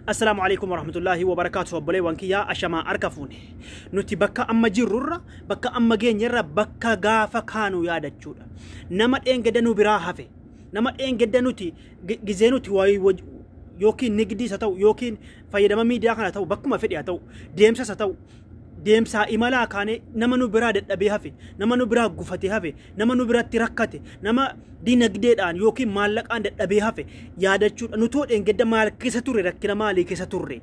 Assalaamu alaikum warahmatullaahi wabarakaatu obboleewwan kiyyaa ashamaa harka fuune nuti bakka amma jirrurra bakka amma geenyerra bakka gaafa kaanu yaadachuudha nama dheengedda nu biraa hafe nama dheengedda nuti gi- gizee nuti waayii waj- yookiin nigdiis haa ta'u yookiin fayyadama miidiyaa kana ta'u bakkuma fedhe haa ta'u deemsas haa ta'u deemsaa imalaa kaanee nama nu biraa dadhabee hafe nama nu biraa gufate hafe nama nu biratti rakkate nama dinagdeedhaan yookiin maallaqaan dadhabee hafe yaadachuudha nutoo dheengadda maal keessa turre rakkina maalii keessa turre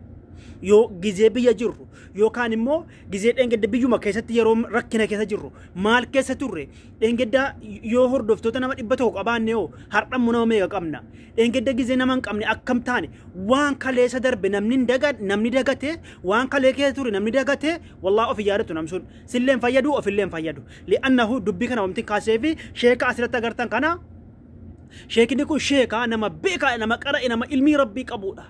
yoo gizee biyya jirru yookaan immoo gizee dheengadda biyyuma keessatti yeroo rakkina keessa jirru maal keessa turre dheengadda yoo hordoftoota nama dhibba tokko qabaanne hoo har'ammoo nama meeqa qabna Dheengadda gizee nama hin qabne akkam taane waan kaleessa darbe namni hin daga namni dagate waan kalee keessa ture namni dagate wallaahi ofi yaadatu nam sun sillee hin fayyadu ofillee hin fayyadu li'annahu dubbii kana wamtiin kaasee fi sheeka asirratti agartan kana sheekni kun sheeka nama beekaa nama qara'e nama ilmii rabbii qabuudha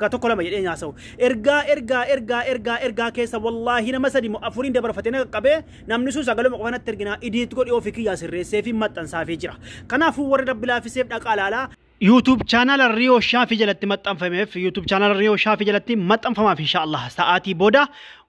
Gaa tokko lama jedhee nyaasa'u. Ergaa ergaa ergaa ergaa ergaa keessa wallaahi nama sadi moo afuriin dabarfatee naga qabee namni sun sagaluma qofa natti erginaa idiit godhi ofii kiyyaa sirreessee fi maxxansaafii jira. Kanaafuu warri rabbi laafiseef dhaqaa laalaa. YouTube channel Rio Shafi jalatti maxxanfameef YouTube channel Rio Shafi jalatti maxxanfamaaf inshaallah sa'aatii booda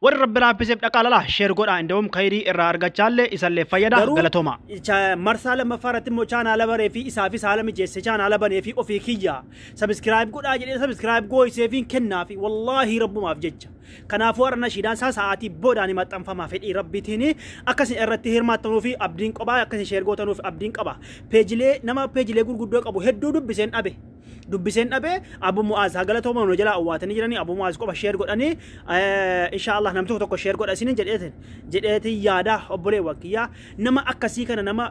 warri rabbi laaffiseef dhaqaa lala share godhaa indawum kayrii irraa argachaallee isallee fayyada Garuu galatooma. cha- marsaa lammaffaa irratti immoo chaanaala baree fi isaafis haala mijeesse chaanaala banee fi ofii kiyyaa Subscribe godhaa jedhee subscribe gooyseefiin kennaafi wallaahi rabbumaaf jecha. Kanaafuu har'a nashiidaan isaa sa'aatii boodaan ni maxxanfama fedhii rabbiitiin akkasii irratti hirmaattanuu fi abdiin qophaa akkasii sheer gootanuu fi abdiin qaba. Peejilee nama peejilee gurguddoo qabu hedduu dubbiseen dhabe. Dubbiseen dhabe Abu Mu'aaz haa galatooma nu jalaa awwaatanii jiranii Abu Mu'aaz qofa sheer godhanii inshaallah namni tokko tokko sheer godha isinin jedheetin jedheetin yaada obboleewwan kiyyaa nama akkasii kana nama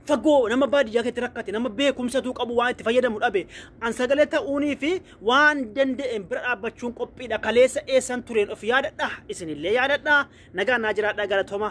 fagoo nama baadiyyaa keessatti rakkate nama beekumsatuu qabu waan itti fayyadamu dhabe an sagalee ta'uunii fi waan danda'een bira dhaabbachuun qophiidha kaleessa eessan tureen of yaadadha isinillee yaadadha nagaa naa jiraadha galatoma